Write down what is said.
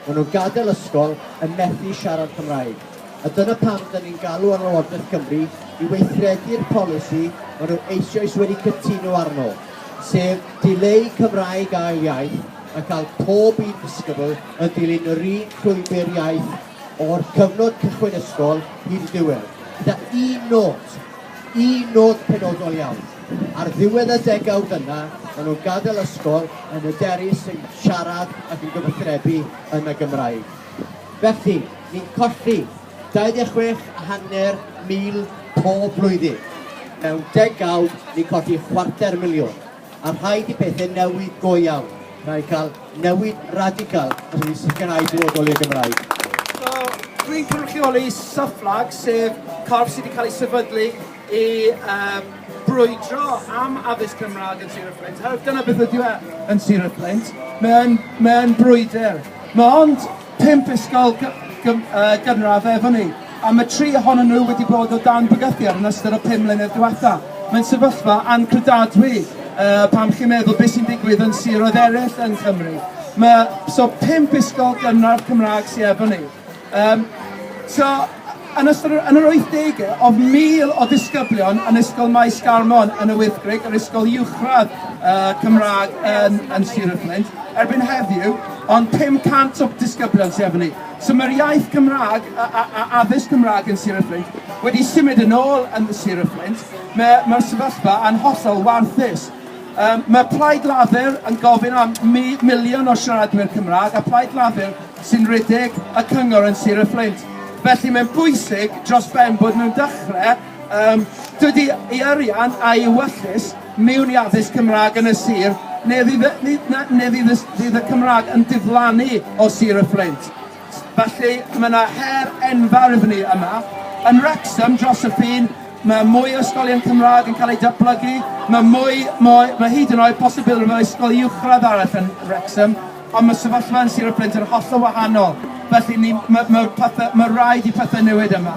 Maen nhw'n gadael ysgol yn methu siarad Cymraeg, a dyna pam dan ni'n galw ar Lywodraeth Cymru i weithredu'r polisi maen nhw eisioes wedi cytuno arno, sef dileu Cymraeg ail iaith a cael pob un disgybl yn dilyn yr un llwybr iaith o'r cyfnod cychwyn ysgol hyd y diwedd, gyda un nod, Un nod penodol iawn. Ar ddiwedd y degawd yna, maen nhw'n gadael ysgol yn hyderus yn siarad ac yn gyfathrebu yn y Gymraeg. Felly, ni'n colli 26 a hanner mil pob blwyddyn. Mewn degawd, ni'n colli chwarter miliwn. A rhaid i pethau newid go iawn. Rhaid cael newid radical os ydy sicrhau dyfodol i'r Gymraeg. So, dwi'n cynrychioli Syflag, sef corff sydd wedi cael ei sefydlu i um, brwydro am addysg Cymraeg yn Sir y Fflint. Herwydd dyna beth ydyw e yn Sir y Fflint. Mae'n mae brwydr. Mae ond Pump ysgol gynradd efo ni, a mae tri ohonyn nhw wedi bod o dan bygythiad yn ystod y pum mlynedd diwetha'. Mae'n sefyllfa anghredadwy pan chi'n meddwl beth sy'n digwydd yn siroedd eraill yng Nghymru. Mae... so pump ysgol gynradd Cymraeg sy efo ni. Yym so... Yn ystod yr yn yr wythdegau, oedd 1,000 o ddisgyblion yn Ysgol Maes Garmon yn y Wyddgrug, yr ysgol uwchradd yy Cymraeg yn yn Sir y Fflint, erbyn heddiw, ond 500 o disgyblion sy efo ni. So mae'r iaith Gymraeg a, a, a addysg Cymraeg yn Sir y Fflint wedi symud yn ôl yn Sir y Fflint. Mae, mae'r sefyllfa yn hollol warthus. Um, mae Plaid Lafur yn gofyn am mi, miliwn o siaradwyr Cymraeg, a Plaid Lafur sy'n rhedeg y cyngor yn Sir y Fflint. Felly mae'n bwysig dros ben bod nhw'n dechrau um, dydy ei arian a'i wyllus mewn i addysg Cymraeg yn y sir, neu fydd, neu, neu fydd, y, fydd y Cymraeg yn diflannu o sir y Fflint. Felly mae yna her enfawr iddyn ni yma. Yn Wrexham dros y ffin, mae mwy o ysgolion Cymraeg yn cael eu datblygu, mae mwy, mwy mae hyd yn oed posibilrwydd o ysgol uwchradd arall yn Wrexham, Ond mae sefyllfa yn Sir y Fflint yn hollol wahanol, felly ni- ma- ma' pethe- ma' raid i pethe newid yma.